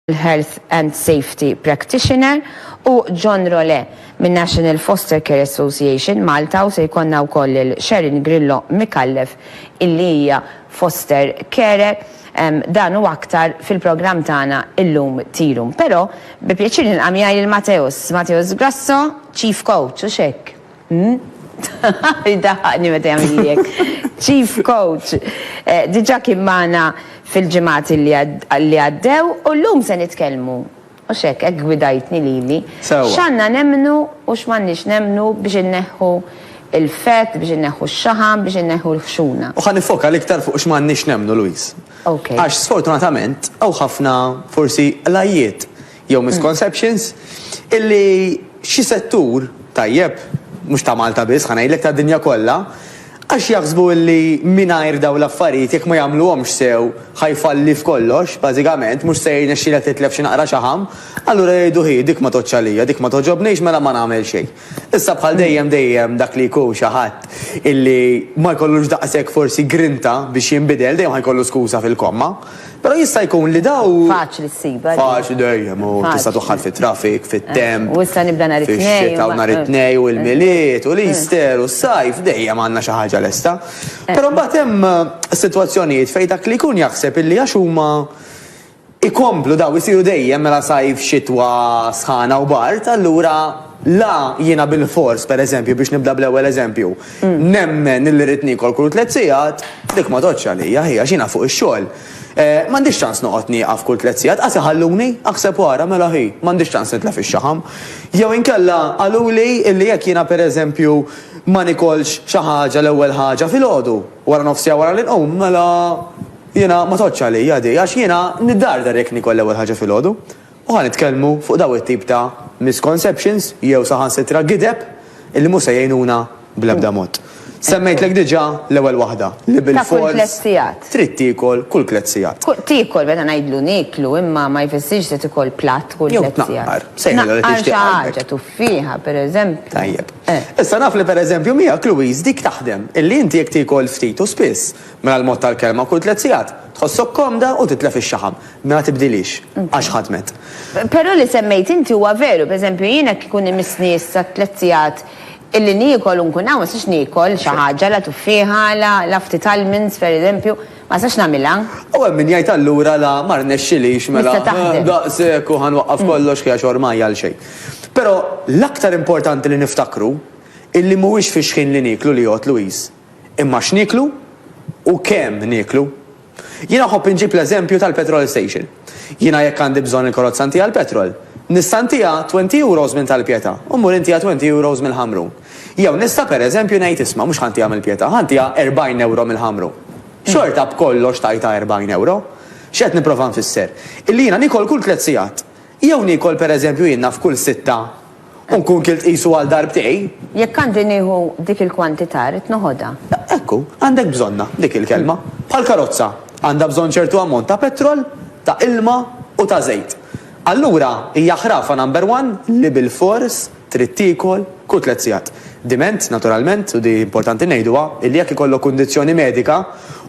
l-Health and Safety Practitioner, u John Rolè, min-National Foster Care Association, Malta, u se jkollna wkoll lil Sharon Grillo Micallef illi hija Foster Carer. Dan u aktar fil-programm tagħna llum Tea Room. Però, bi pjaċir nilqa' miegħi lil Mateus, Mateus Grasso, Chief Coach, hux hekk? Jdaħħaqni meta jagħmilli hekk. Chief Coach diġà kien magħna fil-ġimgħat li għaddew u llum se nitkellmu, mhux hekk, hekk gwidajtni lili, x'għandna nemmnu u x'm'għandniex nemmnu biex inneħħu l-fett, biex inneħħu x-xaħam, biex inneħħu l-ħxuna. U ħa niffoka l-iktar fuq x'm'għandniex nemmnu, Louise. Għax sfortunatament hawn ħafna forsi qlajjiet jew misconceptions, illi xi settur, tajjeb, mhux ta' Malta biss, ħa ngħidlek tad-dinja kollha, għax jaħsbu illi mingħajr dawn l-affarijiet jekk ma jagħmluhomx sew ħa jfalli f'kollox, bażikament, mhux se jirnexxilha titlef xi naqra xaħam, allura jgħidu hi, dik ma tgħoddx għalija, dik ma togħġobnix mela ma nagħmel xejn. Issa bħal dejjem dejjem dak li jkun xi ħadd illi ma jkollux daqshekk forsi grinta biex jinbidel dejjem ħa jkollu skuża fil-komma. Però jista' jkun li daw. Faċli ssibha din. Faċli dejjem u tista' toħħad fit-traffic, fit-temp. U issa nibda nhar it-Tnejn. Fix-xita u nhar it-Tnejn u l-Milied u l-Easter u s-Sajf dejjem għandna xi ħaġa lesta. Però mbagħad hemm sitwazzjonijiet fejn dak li jkun jaħseb illi għax huma ikomplu dawn isiru dejjem mela sajf, xitwa, sħana u bard, allura la jiena bilfors, pereżempju, biex nibda bl-ewwel eżempju, nemmen illi rrid niekol kull tliet sigħat, dik ma tgħoddx għalija hi għax jiena fuq ix-xogħol. M'għandix ċans noqgħod nieqaf kull tliet sigħat, qas iħalluni, aħseb u ara, mela hi, m'għandix ċans nitlef ix-xaħam. Jew inkella qaluli illi jekk jiena pereżempju ma niekolx xi ħaġa l-ewwel ħaġa filgħodu, waranofsija wara li nqum, mela, Jiena ma tgħoddx għalija di għax jiena niddardar jekk niekol l-ewwel ħaġa filgħodu. U ħa nitkellmu fuq dawn it-tip ta' misconceptions jew saħansitra gideb illi mhux se jgħinuna bl-ebda mod. Semmejtlek diġà l-ewwel waħda, li bilfors trid tiekol kull tliet sigħat. Tiekol, meta ngħidlu nieklu imma ma jfissirx se tikol platt kull tliet sigħat. Jew tnaqqar, sejħilha li tixtieq qalbek. Tnaqqar xi ħaġa, tuffieħa pereżempju. Tajjeb. Issa naf li pereżempju miegħek Louise dik taħdem, illi inti jekk tiekol ftit u spiss, Mela l-mod tal-kelma, kull tliet sigħat tħossok komda u titlef ix-xaħam. Mela tibdilhiex għax ħadmet. Però li semmejt inti huwa veru. Per eżempju, jien hekk ikun imissni issa tliet sigħat illi niekol u nkun hawn, ma nistax niekol xi ħaġa, la tuffieħa, la la ftit almonds per eżempju, ma nistax nagħmilha. U hemm min jgħid allura la ma rnexxilix mela daqshekk u ħa nwaqqaf kollox ħi għax ormai għal xejn. Però l-aktar importanti li niftakru illi mhuwiex fix-xħin li nieklu li jgħodd Louise. imma x'nieklu u kemm nieklu. Jiena nħobb inġib l-eżempju tal-petrol station. Jiena jekk għandi bżonn il-karozza ntiha l-petrol, nista' ntiha twenty euros minn Tal-Pietà u mmur intiha twenty euros mill-Ħamrun. Jew nista' per eżempju ngħid isma' mhux ħa ntiha mill-Pietà, ħa ntiha erbgħin ewro mill-Ħamrun. Xorta b'kollox tajtha erbgħin ewro. X'qed nipprova nfisser? Illi jiena niekol kull tliet sigħat. Jew niekol pereżempju jien naf kull sitta u nkun kilt qisu għal darbtej. Jekk għandi nieħu dik il-kwantità rrid noħodha. Ekku, għandek bżonnha, dik il-kelma. Bħal karozza, għandha bżonn ċertu ammont ta' petrol, ta' ilma u ta' żejt. Allura hija ħrafa number one li bilfors, trid tiekol kull tliet sigħat. Diment, naturalment, u di importanti ngħiduha, illi jekk ikollok kundizzjoni medika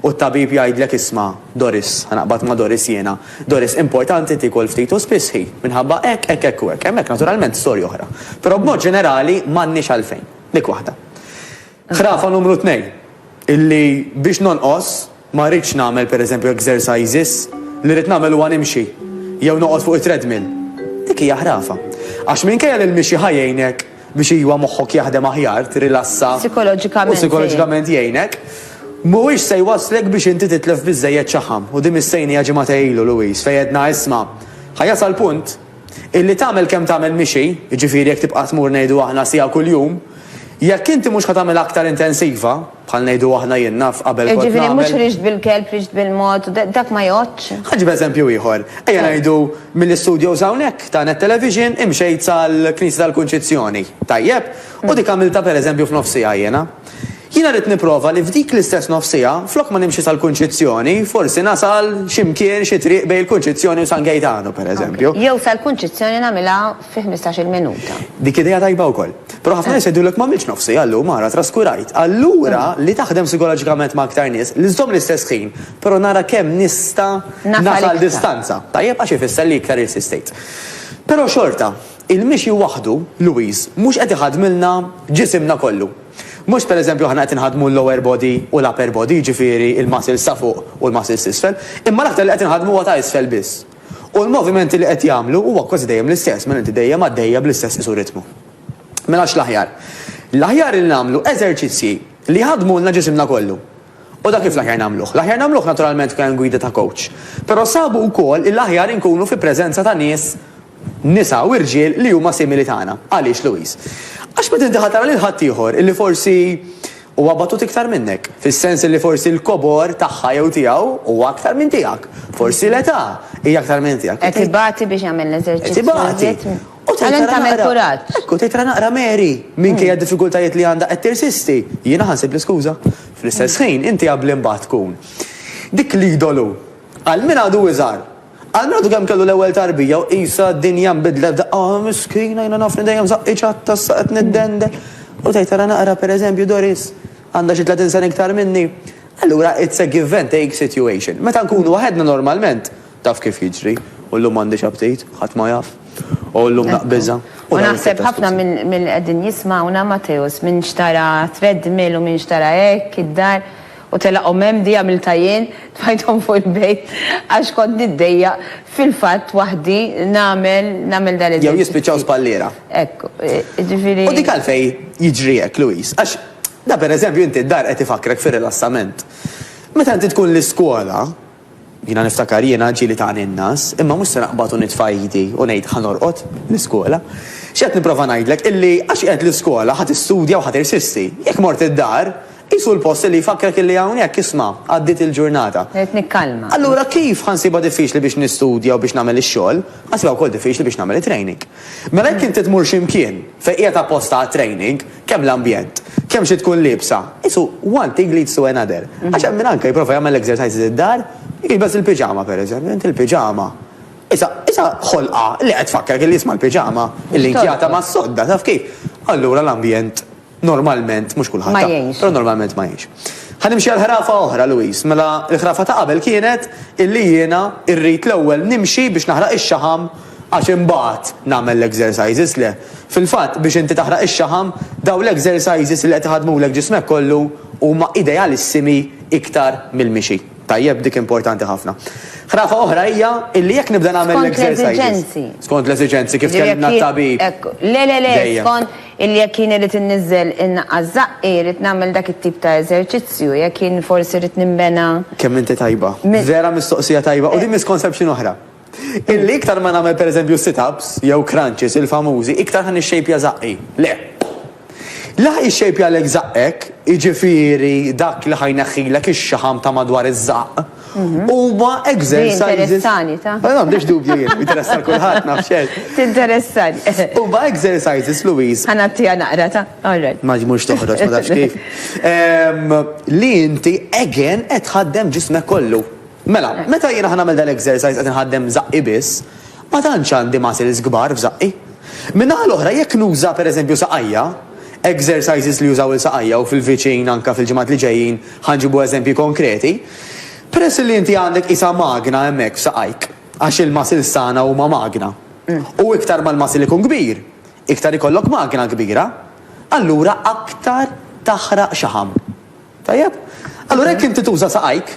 u t-tabib jgħidlek isma', Doris, ħa naqbad ma' Doris jiena, Doris importanti tiekol ftit u spiss ħi, minħabba hekk, hekk, hekk u hekk, hemmhekk naturalment storja oħra. Però b'mod ġenerali m'għandniex għalfejn. Dik waħda. Ħrafa numru tnejn, illi biex nonqos, ma rridx nagħmel pereżempju exercises, li rrid nagħmel huwa nimxi, jew noqgħod fuq it-treadmill. Dik hija ħrafa. Għax minkejja li l-mixi ħa jgħinek biex iwa moħħok jaħdem aħjar, tirilassa, u psikoloġikament jgħinek, mhuwiex se jwasslek biex inti titlef biżżejjed xaħam. U din missejnija ġimgħatej ilu, Louise, fejn għedna isma', ħa jasal punt Illi tagħmel kemm tagħmel mixi, jiġifieri jekk tibqa' tmur ngħidu aħna siegħa kuljum, jekk inti mhux ħa tagħmilha aktar intensiva, bħal ngħidu aħna jien naf qabel kont nagħmel. Jiġifieri mhux rixt bil-kelb, rixt bil-mod, dak ma jgħoddx? Ħa nġib eżempju ieħor. Ejja ngħidu mill-istudios hawnhekk ta' Net Television imxejt sal-Knisja tal-Kunċizzjoni, tajjeb? U dik għamiltha pereżempju f'nofsiegħa jiena. Jiena rrid nipprova li f'dik l-istess nofs siegħa, flok ma nimxi sal-Kunċizzjoni, forsi nasal xi mkien, xi triq bejn il-Kunċizzjoni u San Gejtanu, per eżempju. Jew sal-Kunċizzjoni nagħmilha fi ħmistax-il minuta. Dik idea tajba wkoll. Però ħafna nies jgħidulek m'għamiltx nofs siegħa llum, ara traskurajt. Allura li taħdem sikoloġikament ma' aktar nies, li żżomm l-istess ħin, però nara kemm nista' nasal distanza. Tajjeb, għax ifisser li iktar insistejt. Però xorta. Il-mixi waħdu, Louise, mhux qed iħaddmilna ġisimna kollu. Mhux per eżempju aħna qed inħaddmu l-lower body u l-upper body, jiġifieri l-muscles ta' fuq u l-muscles t'isfel, imma l-aktar li qed inħaddmu huwa ta' isfel biss. U l-movimenti li qed jagħmlu huwa kważi dejjem l-istess mela inti dejjem għaddejja bl-istess qisu ritmu. Mela x'l-aħjar? L-aħjar li nagħmlu eżerċizzji li jħaddmulna ġisimna kollu. U dak kif l-aħjar nagħmluh? L-aħjar nagħmluh naturalment b'kajn gwida ta' kowċ. Però sabu wkoll li l-aħjar inkunu fi preżenza ta' nies, nisa u rġiel li huma simili tagħna. Għaliex, Louise? Għax meta inti ħa tara lil ħaddieħor illi forsi huwa batut iktar minnek, fis-sens illi forsi l-kobor tagħha jew tiegħu huwa aktar minn tiegħek, forsi l-età hija aktar minn tiegħek. Qed ibati biex jagħmel l-eżerċizzju iżjed. Għalhekk tagħmel kuraġġ. Hekk hu, tgħidra naqra Mary, minkejja d-diffikultajiet li għandha qed tirsisti. Jiena ħa nsibli skuża. Fl-istess ħin, inti qabbli mbagħad tkun dik l-idolu għal min għadu iżgħar, għal min għadu kemm kellu l-ewwel tarbija u qisha d-dinja nbidlet f'daqqa, ah miskina jiena nafni dejjem żaqqi ċatta issa qed niddendel. U tgħid ara naqra pereżempju Doris, għandha xi 30 sena iktar minni. Allura it's a give and take situation. Meta nkunu waħedna normalment, Taf kif jiġri, u llum m'għandix aptit, ħadd ma jaf, o llum naqbiżha, u dawn it-tip ta' skużi. U naħseb ħafna mill-li qegħdin jismgħuna, Matteus, min xtara treadmill u min xtara hekk id-dar, u telaqhom hemm, di għamiltha jien, tfajthom fuq il-bejt għax kont niddejjaq fil-fatt waħdi nagħmel, nagħmel dan id-dil. Jew jispiċċaw spalliera. Hekk, jiġifieri. U dik għalfejn jiġri hekk, Louise, għax da pereżempju inti d-dar qed ifakrek fir-rilassament. Meta inti tkun l-iskola, Jiena niftakar jiena ġieli ta' għan-in-nas, imma mhux se naqbad u nitfa' idi u ngħid ħa norqod l-iskola. Xi qed nipprova ngħidlek illi għax qiegħed l-iskola ħa tistudja u ħa tirsisti. Jekk mort id-dar, qisu l-post illi jfakkrek illi hawnhekk isma' għaddiet il-ġurnata. Irrid nikkalma. Allura kif ħa nsibha diffiċli biex nistudja u biex nagħmel ix-xogħol, ħa nsibha wkoll diffiċli biex nagħmel it-training. Mela jekk inti tmur xi mkien, Fejn qiegħed apposta għat-training, kemm l-ambjent, kemm xi tkun liebsa, qisu one thing leads to another. Għax hemm min anke jipprova jagħmel l-exercises id-dar, jilbes il-piġama pereżempju, inti l-piġama, qiesha, qiesha ħolqa li qed tfakkrek illi jisma' l-piġama, illi nkjata mas-sodda, taf kif? Allura l-ambjent normalment, mhux kulħadd, ha, però normalment ma jgħinx. Ħa nimxi għal ħrafa oħra, Louise. Mela l-ħrafa ta' qabel kienet illi jiena rrid l-ewwel nimxi biex naħraq ix-xaħam, Għax imbagħad nagħmel l-exercises, le. Fil-fatt, biex inti taħraq ix-xaħam, dawn l-exercises li qed iħaddmulek ġismek kollu huma idealissimi iktar mill-mixi. Tajjeb, dik importanti ħafna. Ħrafa oħra hija illi jekk nibda nagħmel l-exercises. Skont l-esiġenzi. Skont l-esiġenzi, kif kellimna t-tabib. Le, le, le, skont illi jekk jien irrid inniżżel innaqqas żaqqi, rrid nagħmel dak it-tip ta' eżerċizzju, jekk jien forsi rrid ninbena. Kemm inti tajba. Vera mistoqsija tajba u din mhi skont sempxin oħra. Illi iktar ma nagħmel pereżempju sit-ups jew crunches il-famużi, iktar ħa nixxejpja żaqqi. Le. Li ħa jixxejpjalek żaqqek, jiġifieri dak li ħa jneħħilek ix-xaħam ta' madwar iż-żaqq, huma exercises. Din interessani, ta. Ma għandix dubju jien, jinteressa lil kulħadd, naf xejn. Tinteressani. Huma exercises, Louise. Ħa ngħattiha naqra, ta. All right. Ma mhux toħroġ, ma tafx kif. Li inti again qed tħaddem ġismek kollu. Mela, meta jiena ħa nagħmel dal-exercise qed inħaddem żaqqi biss, ma tantx għandi muscles kbar f'żaqqi. Min-naħa l-oħra jekk nuża pereżempju saqajja, exercises li jużaw il-saqajja u fil-viċin anke fil-ġimgħat li ġejjin ħa nġibu eżempji konkreti, peress li inti għandek qisha magna hemmhekk f'saqajk, għax il-muscles tagħna huma magna, u iktar ma l-muscle ikun kbir, iktar ikollok magna kbira, allura aktar taħraq xaħam. Tajjeb? Allura jekk inti tuża saqajk,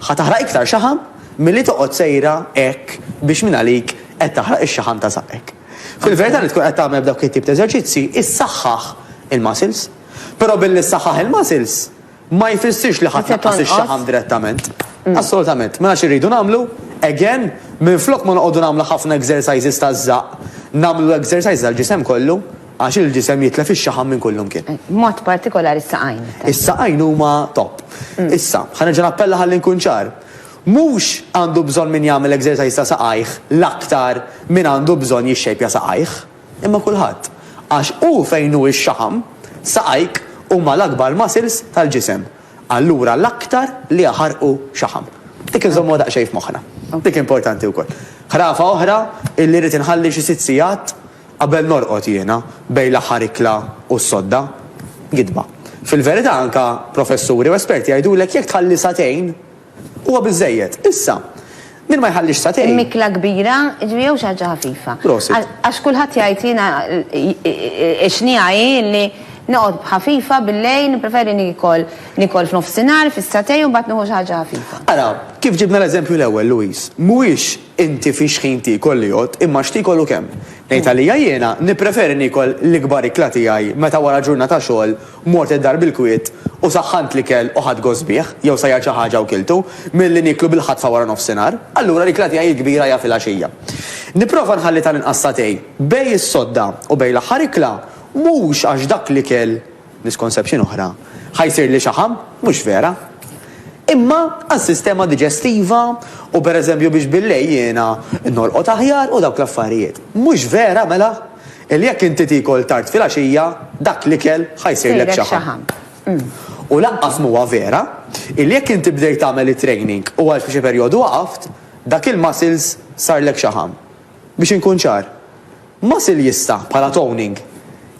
ħa taħraq iktar xaħam milli toqgħod sejra hekk biex mingħalik qed taħraq ix-xaħam ta' saqajk. Fil-verità li tkun qed tagħmel b'dawk it-tip ta' eżerċizzji issaħħaħ il-muscles. Però billi ssaħħaħ il-muscles ma jfissirx li ħa tnaqqas ix-xaħam direttament. Mm. Assolutament. Mela xi rridu nagħmlu? Again, minflok ma noqogħdu nagħmlu ħafna exercises taż-żaq, nagħmlu exercises għall-ġisem kollu. Għax il-ġisem jitlef ix-xaħam minn kull imkien. B'mod partikolari s-saqajn. Is-saqajn huma top. Issa, ħa nerġa' nappella ħalli nkun ċar. Mhux għandu bżonn min jagħmel exercise ta' saqajh l-aktar min għandu bżonn jixxejpja saqajh, imma kulħadd. Għax hu fejn hu x-xaħam, saqajk huma l-akbar muscles tal-ġisem. Allura l-aktar li jaħarqu xaħam. Dik inżommuha daqsxejn f'moħħna. Dik importanti wkoll. Ħrafa oħra illi rrid inħalli xi sitt sigħat Qabel norqod jiena, bejn l-aħħar ikla u s-sodda. Gidba. Fil-verità anke professuri u esperti jgħidulek jekk tħalli sagħtejn, huwa biżżejjed. Issa, min ma jħallix sagħtejn. Ikla kbira, jiġifieri jew xi ħaġa ħafifa. Prosit. Għax kulħadd jgħid jiena x-xniegħa hi li noqgħod b'ħafifa bil-lejl, nippreferi niekol, niekol f'nofsinhar, fis-sagħtejn u mbagħad nieħu xi ħaġa ħafifa. Ara, kif ġibna l-eżempju l-ewwel, Louise, mhuwiex Inti fiex ħin tiekol li jgħodd, imma x'tiekol u kemm? Ngħid għalija jiena, nippreferi niekol l-ikbar ikla tiegħi meta wara ġurnata xogħol mort id-dar bil-kwiet u saħħant l-ikel u ħadt gost bih, jew sajjart xi ħaġa u kiltu, milli nieklu bil-ħatfa wara nofsinhar. Allura l-ikla tiegħi l-kbira hija filgħaxija. Nipprova nħalli tal-inqas sagħtejn bejn is-sodda u bejn l-aħħar ikla, mhux għax dak l-ikel Misconception oħra, ħa jsirli xaħam, mhux vera. Imma għas-sistema diġestiva u pereżempju biex billejl jiena norqod aħjar u dawk l-affarijiet. Mhux vera mela li jekk inti tiekol tard filgħaxija dak l-ikel ħa jsirlek xaħam. U lanqas mhuwa vera li jekk inti bdejt tagħmel it-training u għal xi perjodu waqaft, dak il-muscles sarlek xaħam. Biex inkun ċar. Muscle jista', bħala toning,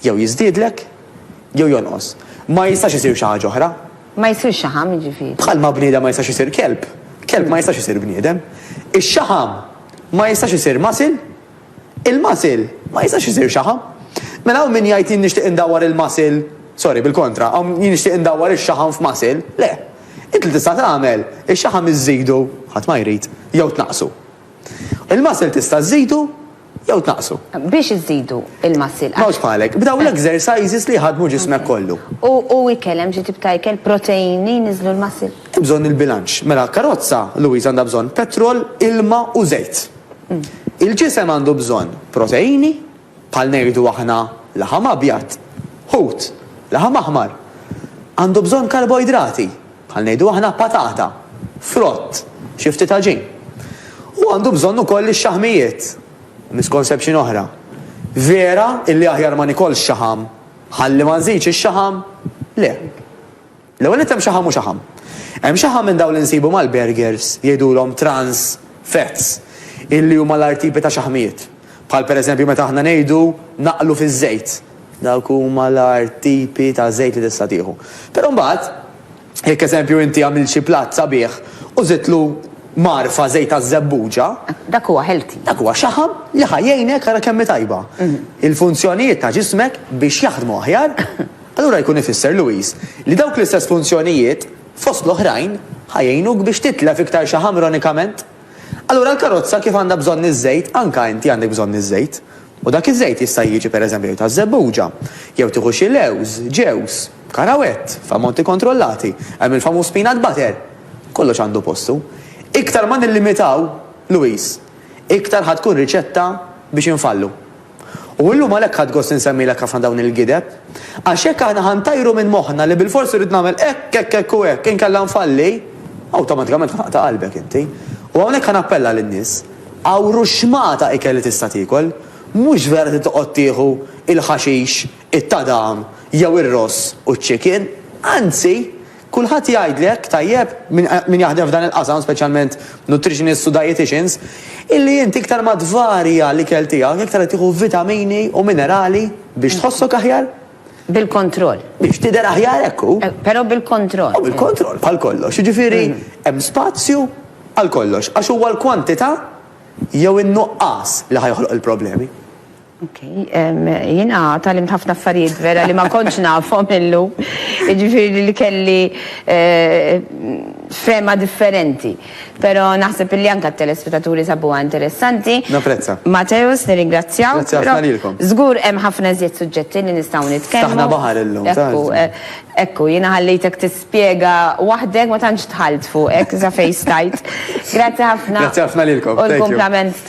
jew jiżdiedlek, jew jonqos. Ma jistax isir xi ħaġa oħra. Ma jsirx xaħam, jiġifieri. Bħalma bniedem ma jistax isir kelb, kelb ma jistax isir bniedem. Ix-xaħam ma jistax isir muscle, il-muscle ma jistax isir xaħam. Mela hawn min jgħid jien nixtieq indawwar il-muscle, sorry, bil-kontra, hawn jien nixtieq indawwar ix-xaħam f'muscle. Le. Int li tista' tagħmel, ix-xaħam iżżidu, ħadd ma jrid, jew tnaqqsu. Il-muscle tista' żżidu, jew tnaqqsu. Biex iżidu il-muscle għax. Mhux bħalek, b'dawn l-exercises li jħaddmu ġismek kollu. U u ikel, hemm xi tip ta' ikel, protein li jniżżlu l-muscle? Hemm bżonn il-bilanċ. Mela karozza, Louise għandha bżonn petrol, ilma u żejt. Il-ġisem għandu bżonn proteini, bħal ngħidu aħna laħam abjad, ħut, laħam aħmar. Għandu bżonn karboidrati. bħal ngħidu aħna, patata, frott, xi ftit għaġin. U għandu bżonn ukoll ix-xaħmijiet, misconception oħra. Vera illi aħjar ma nikolx xaħam ħalli ma nżidx ix-xaħam? Le. L-ewwel nett hemm xaħam u xaħam. Hemm xaħam minn dawn li nsibu mal-burgers jgħidulhom trans fats illi huma l-agħar tipi ta' xaħmijiet. Bħal pereżempju meta aħna ngħidu naqlu fiż-żejt. Dawk huma l-agħar tipi ta' żejt li tista' tieħu. Però mbagħad, jekk eżempju inti għamilt xi platt sabiħ u żidtlu mgħarfa żejt taż-żebbuġa, Dak huwa healthy. dak huwa xaħam li ħa jgħinek ara kemm hi tajba. Il-funzjonijiet ta' ġismek biex jaħdmu aħjar, allura jkun ifisser, Louise, li dawk l-istess funzjonijiet, fost l-oħrajn, ħa jgħinuk biex titlef iktar xaħam ironikament. Allura l-karozza kif għandha bżonn iż-żejt, anke inti għandek bżonn iż-żejt. U dak iż-żejt jista' jiġi pereżempju taż-żebbuġa, jew tieħu xi lewż, ġewż, karawett, f'ammonti kontrollati, hemm il-famuż peanut butter. Kollox għandu postu. Iktar ma nillimitaw, Louise, iktar ħa tkun riċetta biex infallu. U llum għalhekk ħadt gost insemmilek ħafna dawn il-gideb. Għax jekk aħna ħa ntajru minn moħħna li bilfors irrid nagħmel hekk, hekk, hekk u hekk, inkella nfalli, awtomatikament ħa taqta' qalbek inti. U hawnhekk ħa nappella lin-nies, Għawru xmata ikel li tista' tiekol. Mhux vera trid toqgħod tieħu il-ħaxix, it-tadam, jew ir-ross u ċ-chicken. Anzi! Kulħadd jgħid li hekk tajjeb, min jaħdem f'dan il-qasam, speċjalment nutritionists u dieticians, illi int iktar ma tvarja l-ikel tiegħek, iktar qed tieħu vitamini u minerali biex tħossok aħjar. Bil-kontroll. Biex tidher aħjar, hekk hu. Però bil-kontroll. Bil-kontroll, bħal kollox. Jiġifieri hemm spazju għal kollox, għax huwa l-kwantità jew in-nuqqas li ħa joħloq il-problemi. Ok, jina talim ħafna affarijiet vera li ma konċ nafhom illu, ġifiri li kelli eh, fema differenti. Pero naħseb li anka t-telespettaturi sabu interessanti. Naprezza. Mateus, nirringrazzjaw. Grazzja ħafna lilkom. Zgur hemm ħafna zjed suġġetti li nistgħu nitkellmu. Taħna baħar illum. Ekku, eh, ekku, jina ħallejtek tispjega waħdek ma tantx tħalt fuq, ek za fejstajt. Grazzi ħafna. Grazzi ħafna lilkom. U l-komplament ta'